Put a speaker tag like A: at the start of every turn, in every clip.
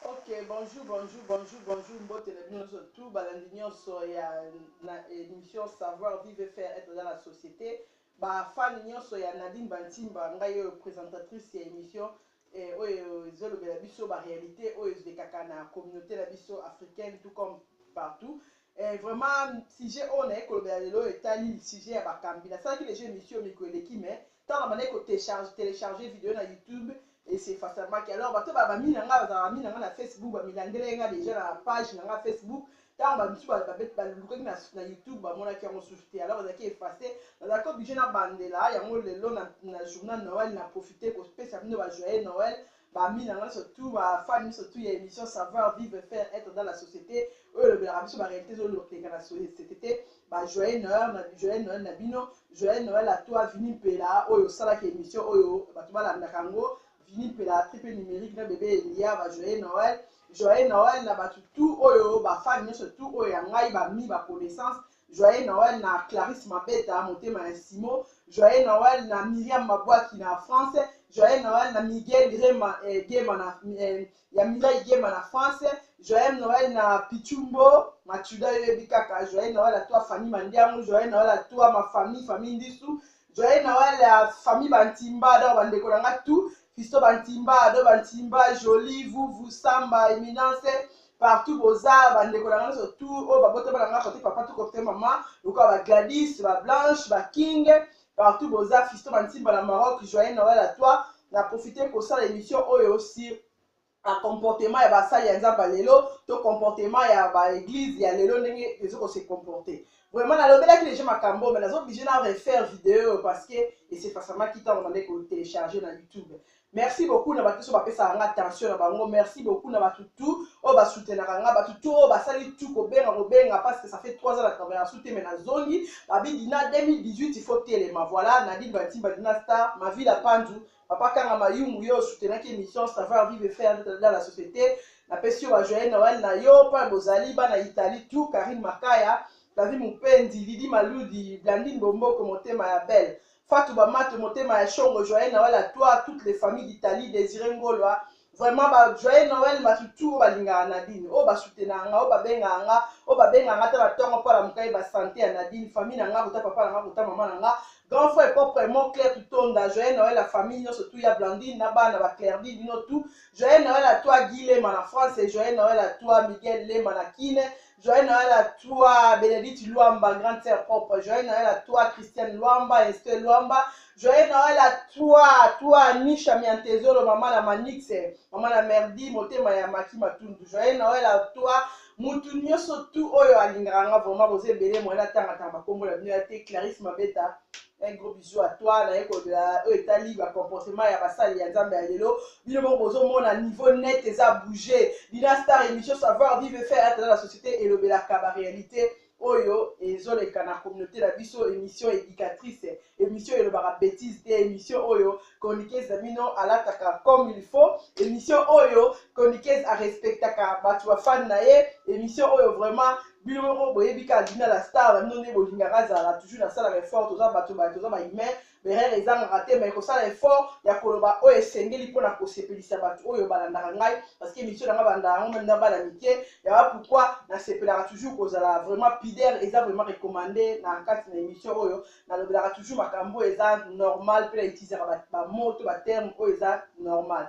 A: Ok bonjour bonjour bonjour bonjour mbote na bino nioso tout balandi nioso ya na emission savoir vive faire etre dans la societe ba fan nioso ya Nadine Bantimba ngai oyo presentatrice ya emission eh, oyo ezolobela biso ba realite oyo ezolekaka na communauté na biso africaine tout comme partout Eh vraiment sujet oyo naye kolobela lelo oyo etali sujet ya bakambi nasalaki dejà emission miko eleki mais tango na bandaki ko techarge telecharger video na youtube et c'est facilement alors bato ba bami na nga bazalaka mi na nga na facebook ba milandela nga dejà na page na nga facebook tango ba misu balukaki na, na youtube bamonaki yango susu te alors ezalaki efface nazalaki oblige na bandela yango lelo na, na journal noël na profite kopesa bino ba joyeux noël ba mina nga so tout ba fan miso tout ya emission savoir vivre faire être dans la société oyo lobelaka biso ba réalité zo loteka na société ba joyeux Noël na joyeux Noël na bino joyeux Noël à toi Vini Mpela oyo sala ki émission oyo bato balandaka ngo Vini Mpela triple numérique na bébé Elia ba joyeux Noël joyeux Noël na bato tout oyo ba fan miso tout oyo ya ngai ba mi ba connaissance Joyeux Noël na Clarisse Mabeta motema ya Simo, Joyeux Noël na Miriam Mabuaki na France, Joyeux Noël na Miguel Rema eh, Gema na eh, ya Mireille Gema na France, Joyeux Noël na Pichumbo Machuda yebi kaka, Joyeux Noël à toi Fanny Mandiangu, Joyeux Noël à toi ma famille, famille Ndisu, Joyeux Noël à famille Bantimba, donc bandeko na nga tout, Fisto Bantimba, Ado Bantimba, Jolie, Vuvu, Samba, Eminence, partout boza bandeko na nga nyonso tu oyo babotama na nga kote papa to kote mama lokola ba Gladys, ba Blanche, ba King, partout boza Fisto Bantimba na Maroc, joyeux Noël à toi. Na profiter kosala émission oyo sur na comportement ya basali ya nzambe ya lelo to comportement ya baeglise ya lelo ndenge ezo kose comporte vraiment nalobelaki deja makambo me nazo oblige na refaire video oyo parce que esefasamaki ntango nabandaki kotelecharge na youtube merci beaucoup na bato nyonso bapesaka nga attention na bango merci beaucoup na bato tout oyo basoutenaka nga bato tout oyo basali tout kobenga kobenga parce que ça fait 3 ans na travail na soute me nazongi babi dina 2018 il faut telema voilà nadine batimba dina star mavila pandu papa kanga mayumbu yo soutenaki émission savoir vive faire dans la société napesi yo bajoye noel na yo mpa bozali bana italie tout karine makaya davi mopendi lidi maludi blandine bomboko motema ya belle fatou bamato motema ya shongo joye noel à toi toutes les familles d'italie désiré ngolwa vraiment ba joyeux noël matutu oyo balingaka nadine oyo basutenaka nga oyo babengaka nga oyo babengaka nga ata na ntongo mpo alamukai basante ya nadine famille na nga kota papa na nga kota mama na nga grand frère propre mon clair tutonda joyeux noël la famille nyonso tu ya blandine na bana ba clairdi bino tu joyeux noël à toi guy lema na france et joyeux noël à toi miguel lema na kine Joyeux Noël à toi, Bénédicte Luamba, grande sœur propre. Joyeux Noël à toi, Christiane Luamba, Esther Luamba. Joyeux Noël à toi, toi, Nisha Miantezolo, maman la Manix, maman la Merdi, motema ya Maki Matundu. Joyeux Noël à toi, mutu nyoso tu oyo alingaka nga vraiment boza ebele moyen atanga tanga bakombo na bino ya te clarisse mabeta Un gros bisou à toi, naye kolobela oyo etali ba comportement ya basali ya Nzambe ya lelo. Bino moko bozo mona niveau net eza bouger. Dina Star émission savoir vivre et faire être dans la société elobelaka ba réalité oyo ezoleka na communauté na biso émission éducatrice émission elobaka bêtise te émission oyo chroniqueuse na bino alataka comme il faut émission oyo chroniqueuse arespectaka bato bafane na ye émission oyo vraiment bino moko boyebi ka dina la star na bino nde bolingaka azala toujours nasalaka effort toza bato baye toza bahumain berere ezangaka te mai kosala effort ya koloba oyo esengeli mpo na kosepelisa bato oyo balandaka ngai parce que émission na ngai balanda yango meme na bana mike yaba pourkui nasepelaka toujours kozala vraiment pider eza vraiment recommande na kati na émission oyo nalobelaka toujours makambo oyo eza normal mpe na utilisaka bamo to baterme oyo eza normal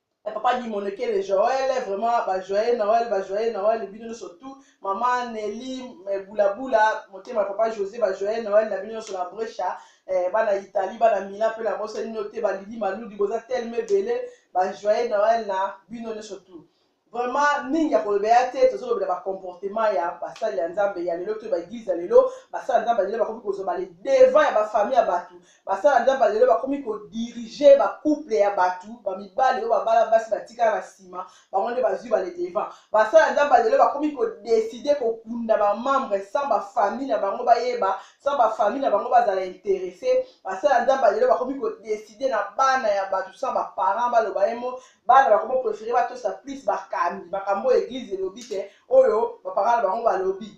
A: Eh, papa dimonekele joel vraiment bajoye noel bajoye noel bino nyonso tout mama neli eh, bulabula motema papa josé bajoye noel na bino nyonso na brecha eh, bana italie bana mila mpe na bosani bino te balili maludi boza teleme ebele bajoye noel na bino nyonso tout vraiment mingi ya kolobela te tozolobela bacomportement ya basali ya nzambe ya lelo to baeglise ya lelo basali ya nzambe ya lelo bakomi kozwa bale devant ya bafamille ya bato basala nzambe ya lelo bakomi kodirige bacouple ya bato bamibali oyo babala basi batikala na nsima bango nde bazwi baledevant basala nzambe ya lelo bakomi kodeside kokunda bamembre sans bafamille na bango bayeba sans bafamille na bango bazala interesse basala nzambe ya lelo bakomi kodeside na bana ya bato sans baparent baloba ye mo bana bakomi prefere batosa plus bakambi makambo oyo eglize elobi te oyo bapara na bango balobi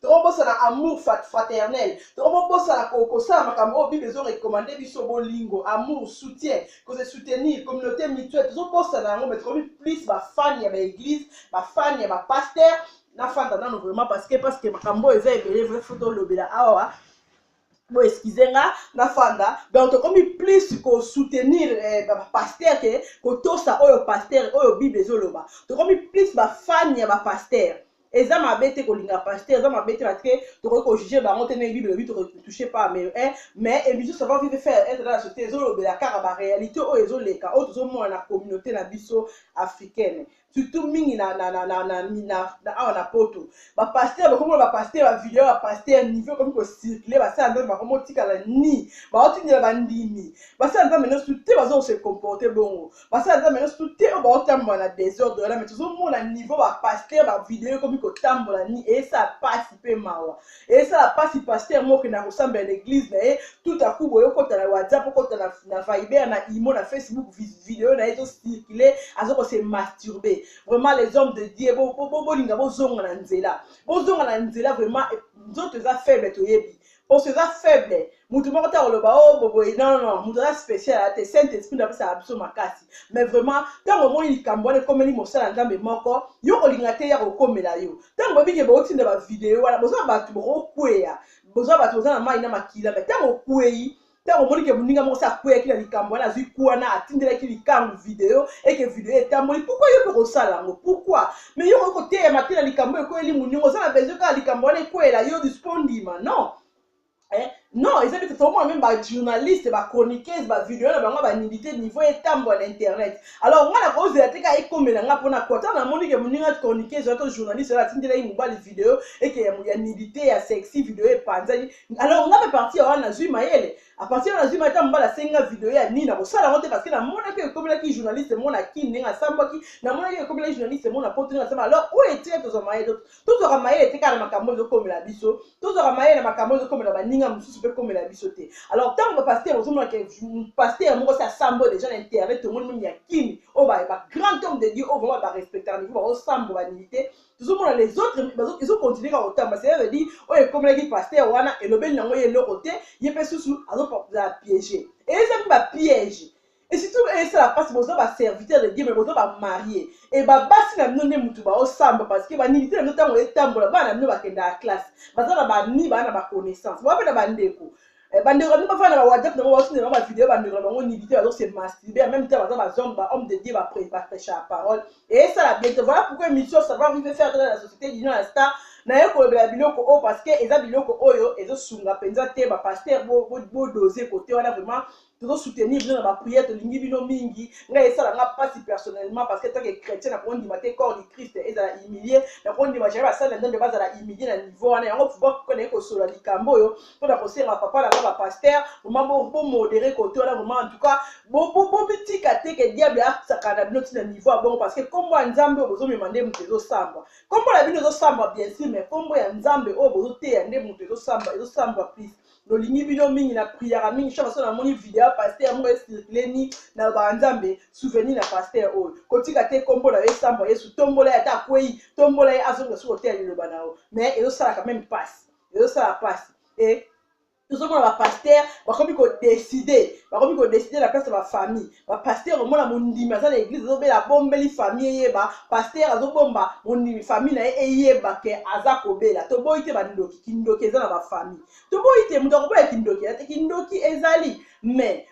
A: tokobosana amour fraternel tokobosana kosala makambo oyo bible ezorekomande biso bolingo amour soutien kose soutenir communauté mutuelle tozobosana yango me tokomi plus bafane ya baeglise bafane ya bapaster nafanda nano vraiment parce que parce que makambo oyo eza ebele vrai fo tolobela awa bo excuse nga na fanda donc tokomi plus ko soutenir eh, ba pasteur ke kotosa oyo pasteur oyo bible ezoloba tokomi plus ba fan ya ba pasteur eza mabe te kolinga pasteur eza mabe te parce que tokoki kojuge bango te ndenge bible elobi tokotouche pas mais eh, mais émission savoir vivre faire être dans la société ezolobela kaka baréalité oyo ezoleka oyo tozomona na communauté na biso africaine surtout mingi na, na, na, na, na, na, na awa na poto bapaster bakomona bapaster bavideo ya paster niveau ekomi kocircule basala nzambe bakomi otikala ni baotindela bandimi basala nzambe nyonso te baza kose comporte bongo basala nzambe nyonso te oyo baotambola na desordre wana me tozomona niveau bapaster bavideo ekomi kotambola ni eyesa mpasi mpe mawa esala pasi pasteur moko na kosambela na eglise na ye tout à coup boyo kota na whatsapp okota na, na viber na imo na facebook video na ye ezocircule aza kose masturbe vraiment les hommes de dieu bolinga bo, bo, bo bozonga na nzela bozonga na nzela vraiment nzoto eza faible toyebi poso eza faible moto moko te akoloba o oh, boboye non non moto aza spécial aya te saint esprit nde apesaka biso makasi mais vraiment ntango omoni likambo wana ekomeli mosala nzambe moko yo kolinga te ya kokomela yo ntango bobike botinda bavideo wana boza bato bokokweya boza bato boza na mai na makila mai ntango okwei ntango omoni ke moninga moko se akweyaki na likambo wana azwi kwana atindelaki likambo video eke video etamboli pourkui yo mpe kosala yango pourkui mai yo koki koteyama te na likambo ekweyeli moninga oza na besoin kaka likambo wana ekweyela yo dispo ndima non Eh, non eza bete tomona meme bajournaliste bachroniqueuse bavideo na bango banidite niveau etambwa na internet alors ngai nakozela te kaka ekomela ngai mpona kota namoni ke moninga chroniqueuse wato journaliste oyo atindelaki mobali video eke ya nidite ya sexy video epanzani alors ngai mpe parti ya wana nazwi mayele aparti wana nazwi mayele ta mobali asenga video ya nini nakosala yango te parce que namonaki ekomelaki journaliste mona kin ndenge asambwaki namonaki ekomelaki journaliste mona poto ndenge asamba alors oyo etika tozwa mayele tozwaka mayele te kaka na makambo oyo ezokomela biso tozwaka mayele na makambo oyo ezokomela baninga mosusu mpe ekomela biso te alors ntango bapaster ozomonaka paster moko si asambo deja na internet tomoni meme ya kini oyo bagrand homme de dieu oyo vraimen barespectaka niveau baosambo banilite tozomona les autres ezokontinue kaka kotamba cest veut dire oyo ekomelaki paster wana elobeli yango ye eloko te ye mpe susu azozala piége eza mpe bapiège et surtout esala mpasi boza baserviteur de dieu me boza bamarie e babasi na bino nde motu baosamba parce que banilite na bino ntango etambola bana na bino bakendaka classe baza na bani baa na baconnaissance boa mpe na bandeko eh, bandeko na bino bafana na whatsapp na bango baotinda bango bavideo bandeko na bango nilite bazose masturbe en même temps baza bazombe bahomme de dieu baprêchaka parole e esala bien te voilà pourquoi émission savoir vive faire dans la société dino na star naye kolobela biloko oyo parce que eza biloko oyo ezosunga mpenza te bapaster bodose bo, bo kote wana vraiment tozo soutenir bino na ba prière tolingi bino mingi ngai esala nga pasi personnellement parce que tant que chrétien na kondima te corps du Christ ezala humilié na kondima jamais basali na Nzambe bazala humilié na niveau wana yango pouvoir pourquoi naye kosola likambo oyo mpo na kosenga papa na nga ba pasteur vraiment bo bo modéré côté wana vraiment en tout cas bo bo bo bitika te que diable asaka na bino ti na niveau abongo parce que kombo ya Nzambe oyo bozo mema nde moto ezo samba kombo na bino ezo samba bien sûr mais kombo ya Nzambe oyo bozo teya nde moto ezo samba ezo samba plus lolingi bino mingi na priaka mingi chaque fois namoni video ya pasteur moko esirkile ni nalobaka nzambe souvenir na pasteur oyo kotika te nkombo na yo esambwa yesu tombola ye ata akwei tombola ye azonga soki oteya liloba na yo mais ezosalaka meme mpasi ezosala mpasi e tozomona bapastere bakomi kodeside bakomi kodeside na place ya bafamille ba pasteur omona mondimi aza na eglise azobela abombeli famille eyeba pasteur azobomba mondimi famille na ye eyeba ke aza kobela toboyi te bandoki kindoki eza na bafamille toboyi te moto akoboya kindoki ate kindoki ezali mais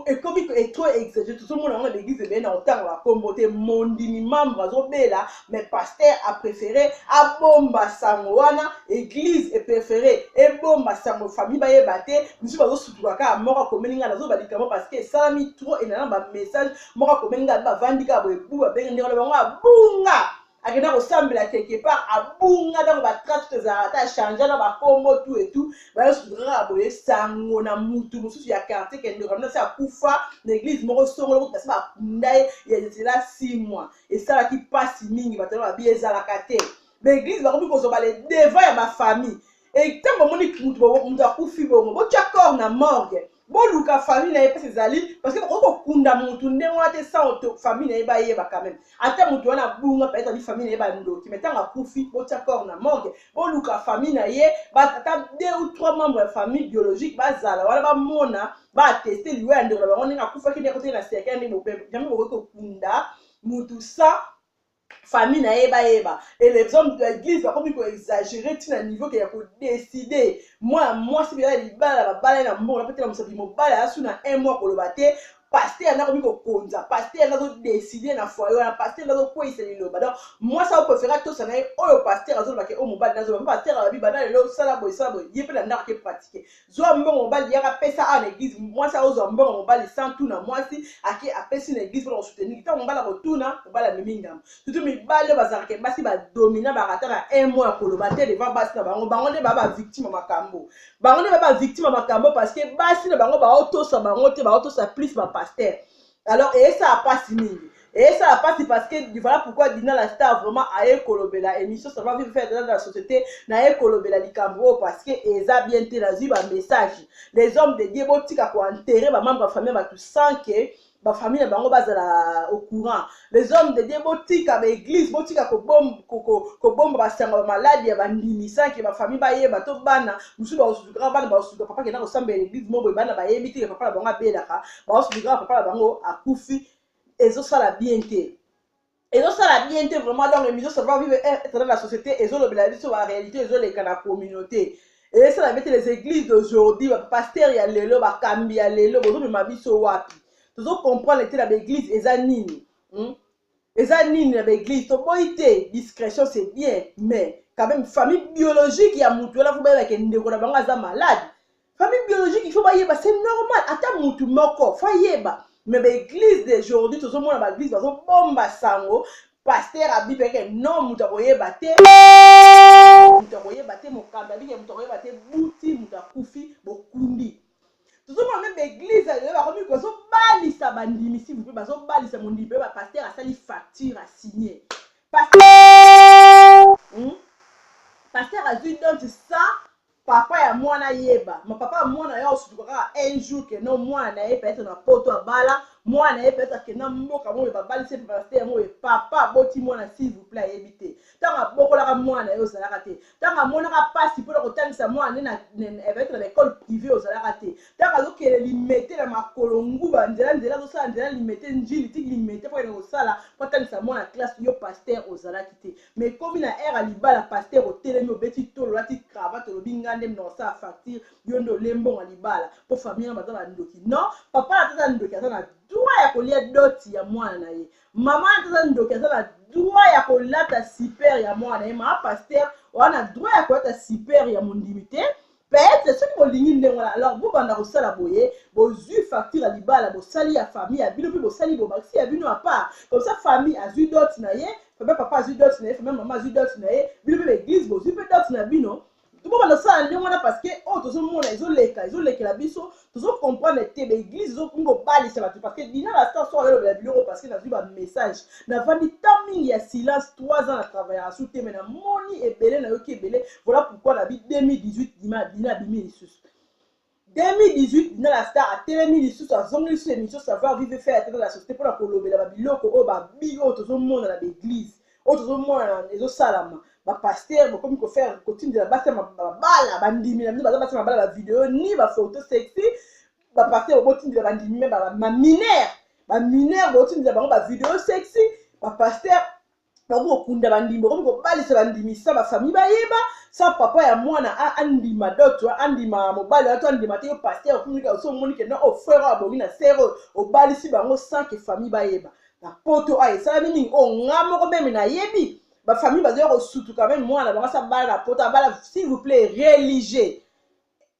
A: ekomi etro exage tozomona yango na baeglise ebele na kotanga bakombo te mondimi membre azobela mais pasteur apréféré abomba sango wana eglise epréféré ebomba sango famille bayeba te misusu bazo Suka kaka moko akomeli ngai nazoba likambo parce que esalami trop et nana ba message moko akomeli ngai bavandi kaka boye bu babengi ndeko na bango abunga akenda kosambela quelque part abunga ntango batrace tozalaka ata change na bakombo tu etu bayosuka kaka boye sango na mutu mosusu ya quartier kende kamina se akufa na eglise moko songolo kuta se bakunda ye ya zela six mois esalaki mpasi mingi bato na babi ezalaka te baeglise bakomi kozwa bale devant ya bafamille Et tant que monique mutu akufi bongo, bo tia corps na morgue. Bo luka famille na ye pesa ezali parce que oko kunda mutu ndenge wana te sans auto famille na ye ba yeba quand même. Ata mutu wana bunga peut-être ali famille na ye ba ndoki mais tant akufi bo tia corps na morgue. Bo luka famille na ye ba ata deux ou trois membres ya famille biologique ba zala wana ba mona ba attester liwa ya ndeko na bango ndenge akufaki ndenge akotaki na cercueil ndenge bobebe. Jamais bokoki kokunda mutu sans famille na ye bayeba et les hommes de l'église bakomi koexagere ntina niveau ke ya kodeside mwana mwasi mpenza ya libala na babala ye na mbongo na mpe tela mosapi mobali asu na un mois koloba te paster yango akomi kokonza paster yango azodeside na foye wana paster yango azokweyisa liloba donc mwasi akoprefere atosa na ye oyo paster azolobake oyo mobali nazoloba mpe paster alobi banda lelo sala boye sala boye ye mpe na ndako ake pratike zwa mbongo mobali yaka pesa awa na eglise mwasi aozwa mbongo mobali sans tuna mwasi ake apesi na eglise mpona kosuteniki ntango mobali akotuna mobali amemi ngambo tutu mibali oyo bazalaka basi badomina bakata na un mot ya koloba te devant basi na bango bango nde baa bavictime ya makambo bango nde baa bavictime ya makambo parce que basi na bango baotosa bango te baotosa plus bapaster alors eyesala mpasi mingi eyesala mpasi parce que voilà pourquoi dina la star vraiment aye kolobela émission ça va vivre faire dans la société naye kolobela likambo oyo parce que eza bien te nazwi bamessage les hommes de dieu botika koenterre bamambre ya famille ya bato sans que bafamille na bango bazala au courant les hommes de dieu botika baeglise botika kobomba ko, ko, ko basango bamaladi ya bandimi sans ke bafamille bayeba to bana mosusu bakosusu kaka bana bakosusu papa kenda kosambela eglise moko boye bana bayebi te ke papa na bango abelaka baosi likaa papa na bango akufi ezosala bien te ezosala bien te vraiment donc émission ça va vivre être dans la société ezolobela biso ba réalité ezoleka na communauté ezosala bien te les églises d'aujourd'hui ba pasteur ya lelo bakambi ya lelo bozomema biso wapi tozo comprendre te na baeglise eza nini hmm? eza nini na ba eglise toboyi te discrétion c'est bien mais quand même famille biologique ya mutu wana fo bayeba ke ndeko na bango aza malade famille biologique il faut bayeba c'est normal ata mutu moko fo ayeba mais ba eglise d'aujourd'hui tozomona ba eglise bazobomba sango paster abibeke no moto akoyeba te moto akoyeba te mokambi abike moto akoyeba te buti moto akufi bokundi tozomona mpe baeglize ya lelo bakomi bazobalisa bandimi si vupe bazobalisa mondimi mpe bapaster asali facture asigne paster hmm? azwi donte sa papa ya mwana yeba ma papa ya mwana ya osutuka kaka un jour ke no mwana na ye peut-être na poto abala mwana na ye peut-être akenda mboka moyo babalisi mpe paster yango ye papa aboti mwana si vuple ayebi te ntango abokolaka mwana na ye ozalaka te ntango amonaka mpasi mpona kotangisa mwana ne naetre na ekole privé ozalaka te ntango azokele limete na makolo nguba nzela nzela azosala nzela limete njili ti limete mpo kende kosala mpo atangisa mwana classe yo paster ozalaki te ma ekomi na aire ya libala paster otelemi obeti tolo olati cravate olobi nga nde mna kosala facture yo nde olembongo ya libala mpo famille yango baza bandoki non papa na taza ndoki aza na droit ya kolia doti ya mwana na ye mama wana aza ndoki aza na droit ya kolata super ya mwana ye mama paster oza na droit ya kolata super ya mondimi te peut-être soki bolingi ndenge wana alors bobanda kosala boye bozwi facture ya libala bosali ya famille ya bino mpe bosali bobakisi ya bino apart comme ça famille azwi dote na ye famille papa azwi dote na ye famille mama azwi dote na ye bino mpe baeglise bozwi mpe dote na bino tokobanda kosala ndenge wana parceke oyo tozomona ezoleka ezolekela biso tozocomprendre te baeglise ezokomi kobalisa bato parceke dina la star so ayolobela biloko parceke nazwi bamessage navandi ta mingi ya silence 3 ans na travaillaka su te me namoni ebele nayoki ebele voilà pourquoi nabi 2018 dina dina abimi lisusu 2018 dinana star atelemi lisusu azongi lisusu emission savoir vive faire atata la société mpona kolobela babiloko oyo babi oyo tozomona na baeglise oyo tozomona ezosalama bapaster bokomi kofaire kotindela basi ya mabala bandimi na bino baza basi ya mabala bavideo ni bafoto sexy bapaster bobotindela bandimi me baminere baminere botindela bango bavideo sexy bapaster bakomi kokunda bandimi bakomi kobalisa bandimi sa bafamille bayeba sa papa ya mwana andima doto andima mobali wana to andima te yo paster okumika osi omoni ke no ofrere oyo abongi na sere oyo obalisi bango sa ke famille bayeba na poto oyo esalami nini oyo nga moko meme nayebi bafamille bazoya kosutuka meme mwana bango asi abala na poto abala s'il vous plaît religieux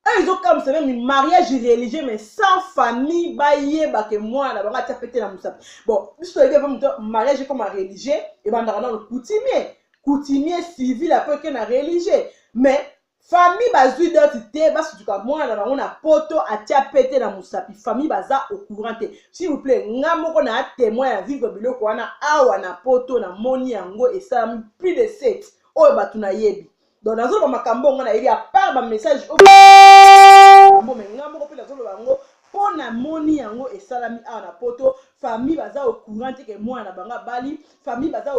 A: oyo ezokamwisa meme mariage religieux mais sans famille bayeba ke mwana bango atia pete na mosapi bon biso toyebi ava moto mariage ekoma religieux ebandaka nano coutumier coutumier civil apo eke na religieux mais famille bazwi doti te basutuka mwana na bango na poto atia pete na mosapi famille baza au courant te s'il vous plaît nga moko na témoin ya vivre biloko wana awa na poto na moni yango esalami plus de 7 oyo bato nayebi donc nazoloba makambo yango nayebi apart bamessage oyo me ngai moko mpe nazoloba yango mpo namoni yango esalami awa na poto famille baza ocourant te ke mwana na bango abali famille baza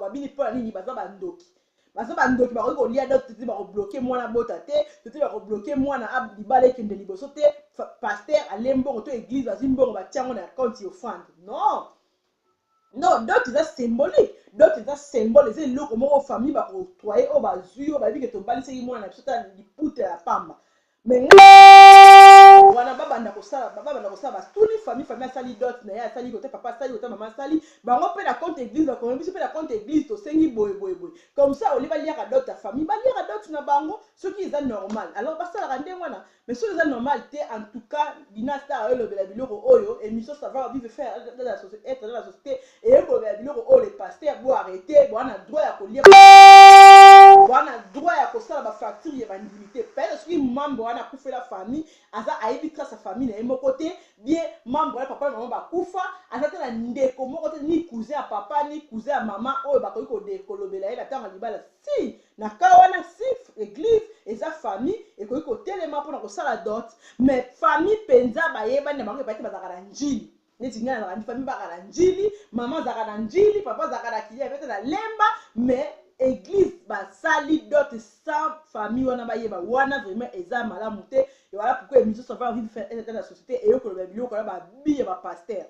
A: babini mpo na nini baza bandoki baza bandoki bakoki kolia dot te bakobloke mwana bota te tote bakobloke mwana libala ekende liboso te paster ale mbongo to eglise bazwi mbongo batya yango na akaunti ya ofrande non Non dot eza symbolique dot eza symbole eza eloko moko famille ba octroye oyo bazui oyo bayebi ke tobalisaki mwana na biso ata liputa ya pamba mais ngai wana babanda kosala babanda kosala batuni famille famille asali dot na ye asali kote papa asali kote mama asali bango mpe na compte église bakomi biso mpe na compte église tosengi boye boye boye comme ça olie baliaka dot ya famille baliaka dot na bango soki eza normal alors basalaka ndenge wana Mais soki eza normal te en tout cas Dina Star ayo lobela biloko oyo émission savoir vivre faire dans la société être dans la société et yo lobela biloko oyo les pasteurs bo arrêter bo na droit ya ko lire bo na droit ya ko sala ba facture ya ba ndimi te peut être soki membre wana kufela famille aza ayebi trace ya famille na ye moko te bien membre wana papa na maman ba kufa aza te na ndeko moko te ni cousin ya papa ni cousin ya maman oyo bakoki ko de ko lobela ye na tango ya libala Ti na cas wana sif eglise eza famille ekoki kotelema pona kosala dot mais famille penza bayebani na bango epai te bazalaka na njili neti ngai nazalaka famille baka na njili mama azalaka na njili papa azalaka na kilia pete na lemba mais eglise basali dot sans famille wana bayeba wana vraiment eza malamu te ewala pourquoi emission ça va envie de faire un état de la société eyo koloba biloko na babi ya ba pasteur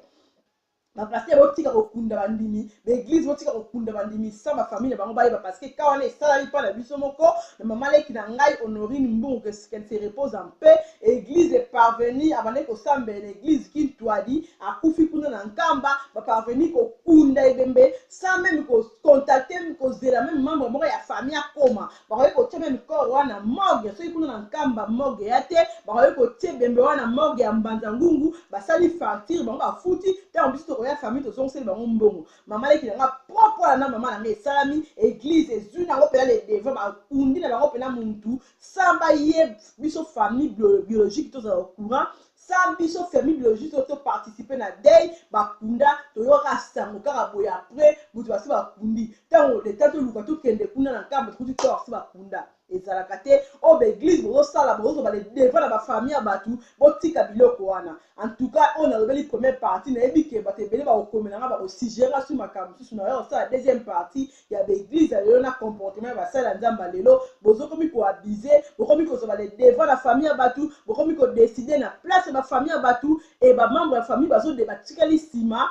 A: Ba pasteur botika kokunda bandimi ba eglise botika kokunda bandimi sans ba famille na bango bayeba parce que cas wana esalami pa na biso moko na maman leki na ngai Honorine Mbungu que qu'elle se repose en paix eglise est parvenue abandaki kosambela na eglise Kintuadi akufi kuna na Nkamba ba parvenue kokunda ebembe sans meme ko contacter kozela meme membre moko ya famille akoma bakoki kotie meme corps wana morgue soki kuna na nkamba morgue ya te bakoki kotie bembe wana morgue ya mbanza ngungu basali facture bango bafuti ntango biso tokoya famille tozongiseli bango mbongo mama leki na nga propre wana na mama na nga esalami eglise ezwi nango mpena le devant bakundi na bango mpena muntu sans baye biso famille biologique tozala au courant sa biso famille biologiste oyo to participer na deuil bakunda toyoka sango kaka boye après moto basi bakundi ntango leta toluka tokende kuna na nkamba tokuti to basi bakunda ezalaka te oyo baeglise bozosala bozoba le devant na bafamille ya bato botika biloko wana antuka oyo nalobeli première partie nayebi ke bato ebele bakokomela nga bakosigere nga su makambo mosusu nayoya kosala deuxième partie ya ba eglise ya lelo na comportement ya basali ya nzambe ya lelo bozokomi koabuse bokomi kozwa le devant na famille ya bato bokomi kodeside na place ya bafamille ya bato e bamembre ya famille bazode batikali nsima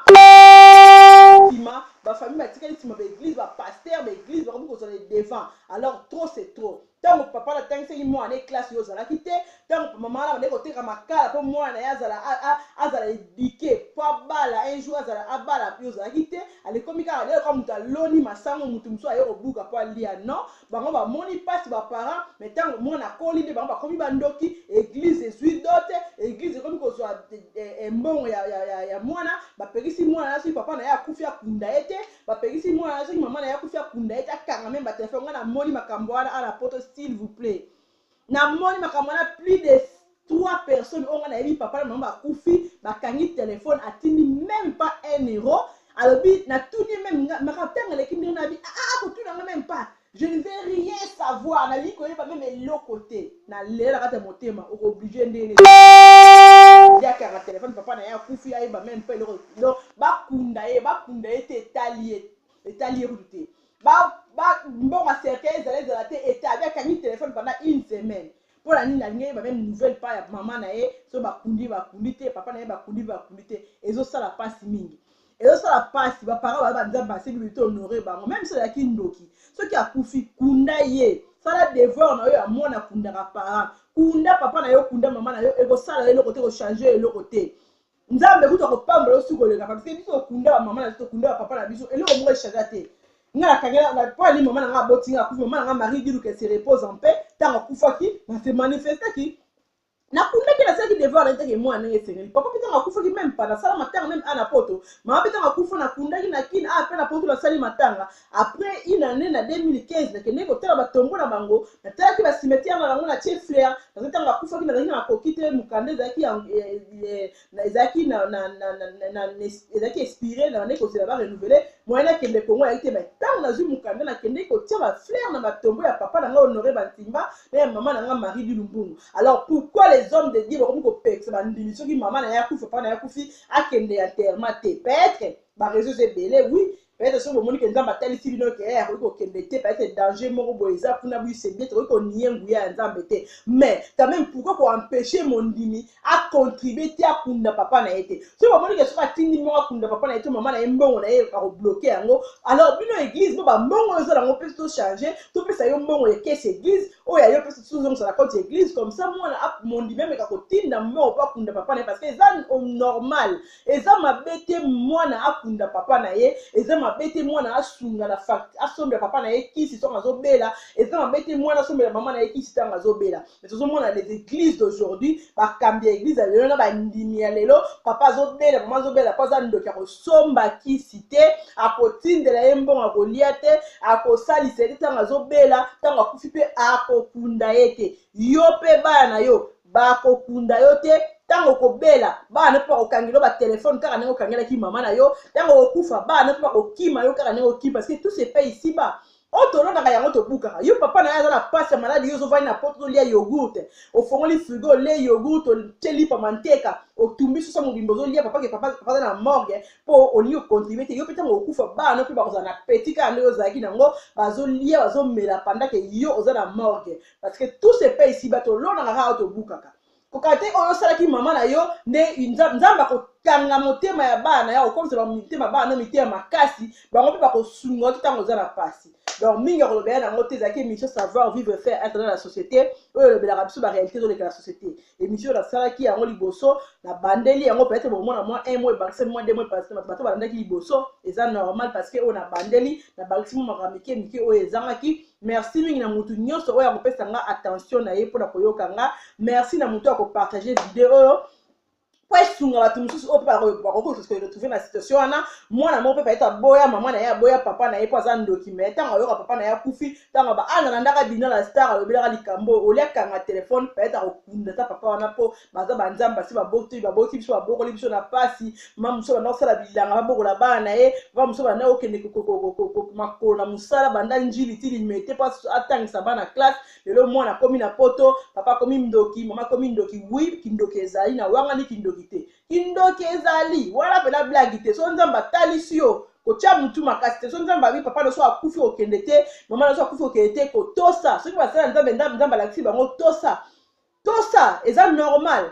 A: nsima bafamille batikali nsima baeglise bapaster baeglise bakomi kozwa le devant alors trop c'est trop ntango papa natangisaki mwana na ye classe yo ozalaki te ntango mama wana bandeki koteka makala mpo mwana na ye azala azala edike mpo abala un jour azala abala yo ozalaki te alekomi kaka lelo kaka moto aloni masango moto mosusu aye kobuka mpo alia non bango bamoni mpasi baparent mai ntango mwana akoli nde bango bakomi bandoki eglize ezwi dote eglize ekomi kozwa eh, eh, mbongo ya, ya, ya, ya mwana bapekisi mwana na soki papa na ye akufi akunda ye te Bapekisi mwana na soki mama na ye akufi akunda ye te akanga meme batelefone. Ngai namoni makambo wana awa na poto s'il vous plait. Namoni makambo wana plus de trois personnes oyo ngai nayebi papa na mama bakufi bakangi telefone atindi meme pas un euro alobi natuni ye meme makambo ntango eleki ndenge nabi aa ah, ah, kotuna ngai meme pas Je ne veux rien savoir, na liko yeba meme eloko te. Na lela kata motema, oko oblige nde ne. Ya kanga téléphone papa na ya kufi ayeba meme pas eloko. Donc ba kunda ye, ba kunda ye te etali ye, etali ye kutu te. Ba ba mbonga cercueil ezala ezala te etali ya kangi téléphone pendant une semaine. Pour la nini alingi ayeba meme nouvelle pas ya maman na ye, so ba kundi ba kundi te, papa na ye ba kundi ba kundi te. Ezo sala pasi mingi. ezosala mpasi baparent baye banzambe basili bili to honore bango meme soki azalaki ndoki soki akufi kunda ye sala devoir na yo ya mwana akundaka parent kunda papa na yo kunda mama na yo ekosala yo eloko te ekochange yo eloko te nzambe kutu akopambola yo soki koleka papa biso biso tokunda bamama na biso tokunda bapapa na biso eloko moko echange te nga nakangela mpo ani mama na nga aboti nga akufi mama na nga marie diluka se repose en paix ntango akufaki na se manifestaki nakundaki nasalaki devoir na etake mwana ndenge esengeli papa mpe ntango akufaki meme pa nasala matanga meme a na poto mama mpe ntango akufa nakundaki na kin a mpe na poto nasali matanga après une année na 2015 nakendeki kotala batombo na bango natalaki basimetiare na bango na tie flair parce que ntango akufaki nazalaki na makoki te mokanda ezalaki na ezalaki na na na na na na ezalaki expire na bande kozela ba renouveler moyen nakende kongo ayaki te mai ntango nazwi mokanda nakendeki kotia ba fleur na matombo ya papa na ngai honore bantimba na ya mama na ngai marie di lumbungu alors pourquoi les hommes de dieu bakomi kopekisa bandimi soki mama na ye akufi papa na ye akufi akende ya terma te petre bareseaux ebele oui peut-être soki bomoni ke nzambe atalisi bino ke eh, akoki kokende te peut-être danger moko boye eza kuna bise bien tokoki konie nguya ya nzambe te mais quand même pourquoi koempêche mondimi acontribue te akunda papa na ye te soki bomoni ke soki atindi moko akunda papa na ye to mama na ye mbongo na ye akobloke yango alors bino église bo bambongo oyo ozala yango mpe tochange topesa yo mbongo ya kese église oyo ayo mpe tozongisa na compte église comme ça mwana mondimi ameka kotinda mbongo mpo akunda papa na ye parce que eza normal eza mabe te mwana akunda papa na ye eza mabe te mwana asunga na facture asombela papa na ye kisi ntango azobela eza mabe te mwana asombela mama na ye kisi ntango azobela mais tozomona les églises d'aujourd'hui bakambi ya église ya lelo na bandimi ya lelo papa azobela mama azobela mpo aza ndoki akosomba kisi te akotindela ye mbongo akolia te akosalisa ye te ntango azobela ntango akufi mpe akokunda ye te yo mpe bana na yo bakokunda yo te ntango okobela bana na mpe bakokangela yo batelefone kaka ndenge okangelaki mama na yo ntango okokufa bana na mpe bakokima yo kaka ndenge okima parce que tout se paye ici bas oyo tolonaka yango tobukaka yo papa na ye aza na mpasi ya maladi yo ozovandi na poto ozolia yogurte ofongoli frigo olie yogurte otie lipa manteka otumbi sosa mobimba ozolia papa ke papa aza na morgue mpo olingi okontribue te yo mpe ntango okufa bana mpe bakozala na peti kaka ndenge ozalaki nango bazolia bazomela pandake yo oza na morgue parce que tout se paye ici bato olonaka kaka tobukaka koka te oyo osalaki mama na yo nde nzambe akokanga motema ya bana na yo akokomisa bamitema bana no mitema makasi bango mpe bakosunga oki ntango oza na mpasi donc mingi ya kolobela yango te ezalaki émission savoir vivre faire être dans la société oyo elobelaka biso baréalité ezoleka na société émission oyo nasalaki yango liboso nabandeli yango peut-être bokomona mwa un mois ebakisi mwa deux mois parce que bato balandaki liboso eza normal parce que oyo nabandeli nabakisi mwa makambo mike mike oyo ezangaki Merci mingi na mutu nyoso oyo akopesa nga attention na ye pona koyoka nga. Merci na mutu ako partager video oyo. mpo esunga bato mosusu oyo mpe bakoki koretrouve na situation wana mwana moko mpe bayeta aboya mama na ye aboya papa na ye mpo aza ndoki me ntango ayoka papa na ye akufi ntango aba ana na ndaka dina la star alobelaka likambo oyo olia kanga telefone bayeta kokunda ata papa wana mpo baza banzambe basi baboti baboti biso babokoli biso na mpasi mama mosusu banda kosala bilanga babokola bana na ye mama mosusu banda kokende makolo na mosala banda njili ti limete mpo atangisa bana classe lelo mwana akomi na poto papa akomi ndoki mama akomi ndoki wi kindoki ezali na wangani kindoki te kindoki ezali wana mpena blagi te so nzambe atalisi yo kotya motu makasi te so nzambe abi papa noso akufi okende te mama noso akufi okende te kotosa soki basala nzambe nzambe alakisi bango tosa tosa eza normal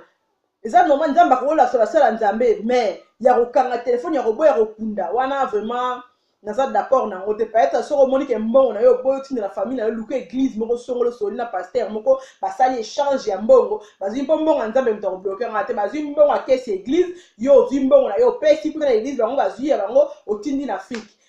A: eza normal nzambe akokolakisa basala nzambe mais ya kokanga telefone ya koboya kokunda wana vraiment naza d'accord na yango te peut-être soki omoni ke mbongo na yo oboyi otindela famille na yo luka église moko songolo soli na pasteur moko basali échange ya mbongo bazwi mpo mbongo ya nzambe moto akobloke yango te bazwi mbongo ya kesi église yo ozwi mbongo na yo opesi kuna na église bango bazwi ya bango otindi na afrique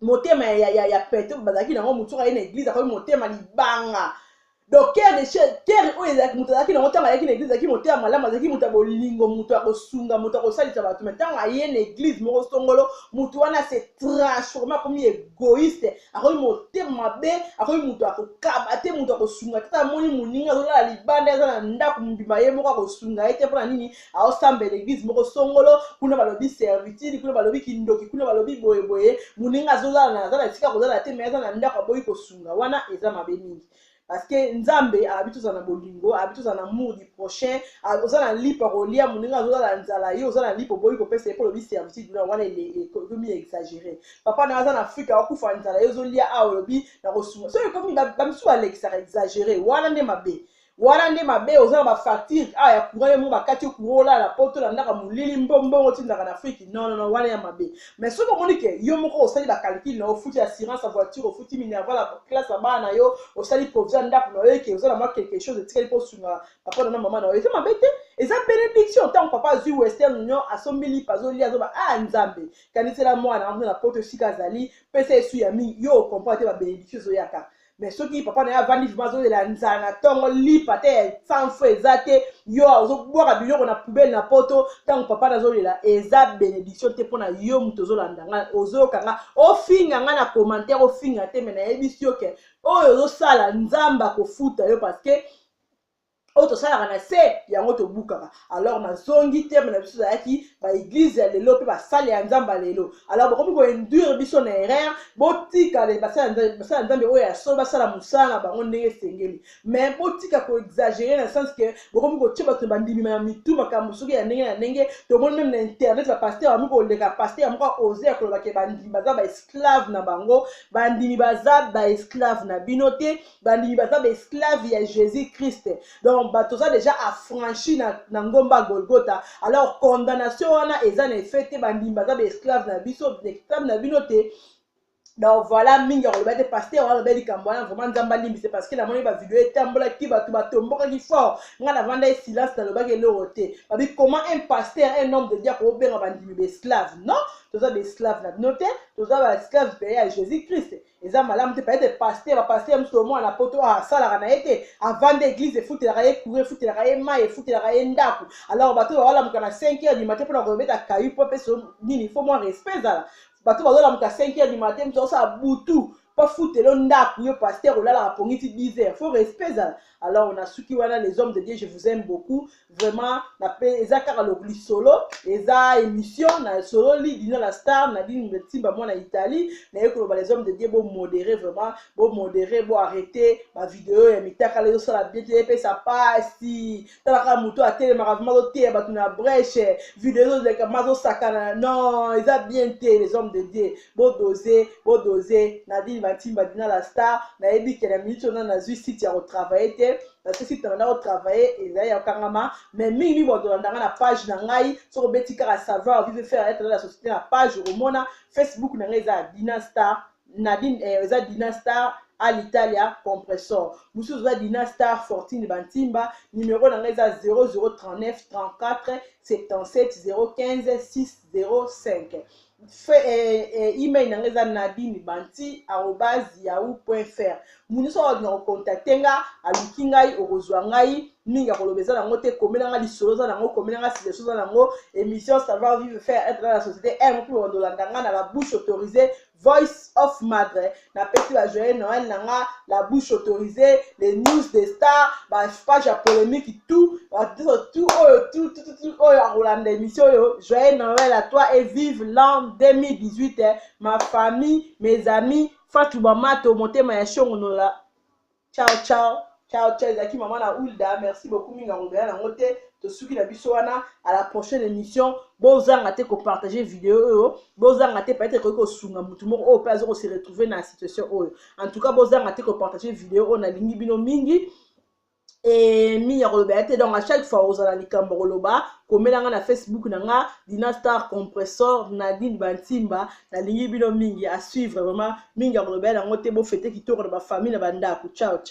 A: motema ya, ya, ya, ya pete bazalaki nango motu soki aye na eglise akomi motema libanga donc kere de kere oyo ezalaki moto azalaki nango ntango ayaki na eglise azalaki motema malamu azalaki moto ya bolingo moto ya kosunga moto ya kosalisa bato mai ntango aye na eglise moko songolo moto wana se transforme akomi egoiste akomi motema mabe akomi moto ya kokaba te moto ya kosunga te amoni moninga azolala libanda aza na ndako mobima ye moko akosunga ye te mpo na nini aosambela eglise moko songolo kuna balobi servitude kuna balobi kindoki kuna balobi boyeboye moninga azozala aza na esika kozala te mai aza na ndako aboyi kosunga wana eza mabe mingi parce que nzambe abi tozala na bolingo abi tozala na amour du prochain oza na lipa kolia moninga azozala nzala yo oza na lipa oboyi kopesa ye mpo olobi servitude na wana ekomi exagere papa na aza na afrike akokufa nzala yo ozolia awa olobi na kosunga soki ekomi bamisusu balekisaka exagere wana nde mabe wana nde mabe oza na ba facture awa ya courant yo moko bakati yo courant olala na poto na ndaka molili mbo mbongo otindaka na afrique non non wana ya mabe mais soki omoni ke yo moko osali ba calcul na yo ofuti assurance ya voiture ofuti minerval ya classe ya bana na yo osali provision ndako na yo eke oza na mwa quelque chose etikali mpo osunga papa na na mama na yo eza mabe te eza benediction ntango papa azwi western union asombi lipa azolia azoba a ah, nzambe kanisela mwana amona na poto esika azali pesa esu ya mingi yo okomprendre te ba benediction ezoyaka mais soki papa na ye avandi vrima azolela nzala na ntongo lipa te ya sanfo eza te yo ozobwaka biloko na poubele na poto ntango papa na azolela eza benediction te mpo na yo moto ozolanda ngai ozoyoka ngai ofinga ngai na commentaire ofinga te me nayebisi yo ke oyo ozosala nzambe akofuta yo parce que oyo tosalaka na se yango tobukaka alors nazongi teme na biso ezalaki baeglize ya lelo mpe basali ya nzambe ya lelo alors bokomi koinduire biso na erreur botika basali ya nzambe oyo ya solo basala mosala na bango ndenge esengeli mais botika koexagere na sens ke bokomi kotye bato na bandimi na mitu makambo soki ya ndenge na ndenge tomoni meme na internet bapaster bami koleka paster moko aose ya kolobake bandimi baza baesclave na bango bandimi baza baesclave na bino te bandimi baza baesclave ya jésus christ donc bato oza déjà affranchi na, na ngomba golgota alors condamnation wana eza na effet te bandimi baza baesclave na biso esclave na bino te donc voilà mingi akoloba te paster wana aloba likambo wana vraiment nzambe alimbise parce que namoni bavideo etambolaki bato batombokaki fort ngai navanda ye silence nalobaki eloko te babi comment un pasteur un homme de dia kobenga bandimi baesclave non toza baesclave na bino te toza baesclave peye ya jésus christ eza malamu te peut-être pasteur ba pasteur mosusu oyo mwana poto asalaka na ye te avanda église efutelaka ye courant efutelaka ye mai efutelaka ye ndako alors bato oyo bawalamuka na 5 heures du matin mpona kobeta kayu mpo apesa nini fo mwa respect ezala bato bazolamuka 5 heures du matin mosusu akosala butu mpo afutelo ndako yo pasteur olalaka pongiti 10 heures fo respect ezala alors nasuki wana les hommes de dieu je vous aime beaucoup vraiment na pe eza kaka lisolo eza émission na sololi dina la star na dini metimba mwana italie naye koloba les hommes de dieu bomodere vraiment bomodere bo arrete bavideo ya mitakala ezosala bien te epesa pasi talaka moto atelemaka vrima azoteya bato na breche video ezoleka ma azosakana non eza bien te les hommes de dieu bodose bodose na dini matimba dina la star nayebi ke na minute oyo na nazwi site ya kotravaille te parce que si tana nako travailler ezali ya kangama mais mingi mingi bakolanda ngai na page na ngai soki obeti kaka savoir vive faire être la société na page okomona facebook na ngai eza ya dina star nadine eh, eza dina star à l'italia compressor mosusu eza dina star fortune bantimba numero na ngai eza 0039 34 77 015 605 fe, eh, eh, email na nga eza nadine banti arobas yahoo point fr mutu nyonso akolinga kokontakte nga aluki ngai okozwa ngai mingi ya koloba eza nango te komela nga lisolo eza nango komela nga sileso eza nango émission savoir vivre faire être dans la société m mpe bandolanda nga na la bouche autorisée voice of madre napesi ba joyeux noël na nga la bouche autorisée les news des stars ba page ya polémique tout batiso tout oyo tout tout tout oyo akolanda émission oyo joyeux noël à toi et vive l'an 2018 eh, ma famille mes amis fatou bamato motema ya shongonola ciao ciao ciao ciao ezalaki mama na ulda merci beaucoup mingi akobela nango te tosuki na biso wana à la prochaine émission bozanga te kopartage video oyo bozanga te peut-être ekoki kosunga motu moko oyo mpe aza kose retrouve na situation oyo en tout cas bozanga te kopartage video oyo nalingi bino mingi e mingi ya koloba ya te donc à chaque fois ozala likambo koloba komela nga na facebook na nga dina star compressor nadine bantimba nalingi bino mingi à suivre vraiment mingi ya koloba yango te bo fete kitoko na ba famille na ba ndaku ciao ciao.